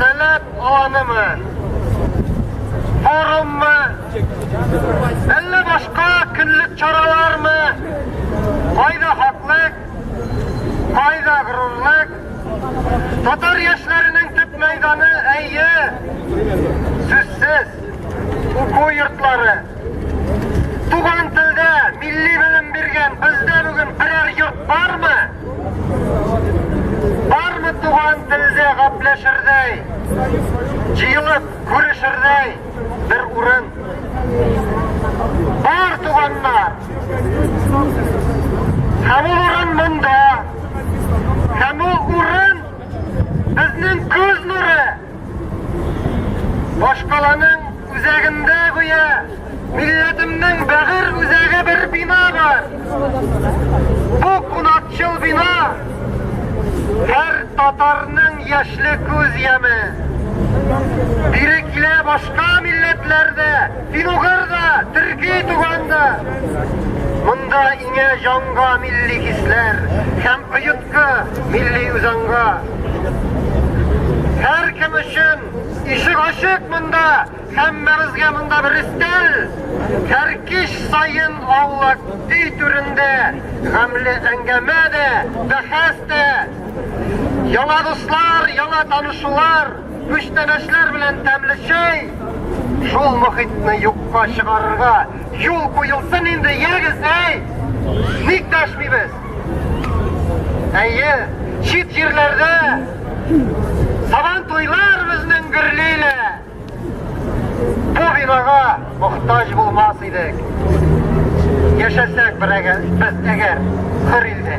Сәләт аланымы? Форуммы? Әллә башка көнлек чаралармы? Кайда хаклык? Кайда горурлык? Татар яшьләренең төп мәйданы әйе, сүзсез, уку йортлары. Туган телдә милли белем биргән бездә бүген берәр йорт бармы? Бармы туган телдә гапләшердәй, җыелып күрешердәй бер урын? Бар туганнар! Һәм ул урын монда, һәм ул урын безнең күз нуры! Башкаланың үзәгендә гүя милләтемнең бәгырь үзәге бер бина бар. Бу кунакчыл бина һәр татарның яшьле күз яме. Бире килә башка милләтләрдә, финугырда, төрки туганда. Монда иңә җанга милли хисләр һәм оет Мәктәпкә, милли үзаңга. Һәркем өчен ишек ачык монда, һәммәбезгә монда бер өстәл. Кәркиш саен аулак өй түрендә, гамле әңгәмә дә, бәхәс тә. Яңа дуслар, яңа танышулар, күчтәнәчләр белән тәмле чәй. Шул мохитне юкка чыгарырга юл куелсын инде, ягез, әй! Ник дәшмибез? Әйе, чит җирләрдә сабан туйлар безнең гөрлилә. Бу бинага мохтаҗ булмас идек. Яшәсәк берәгә без әгәр хөр илдә.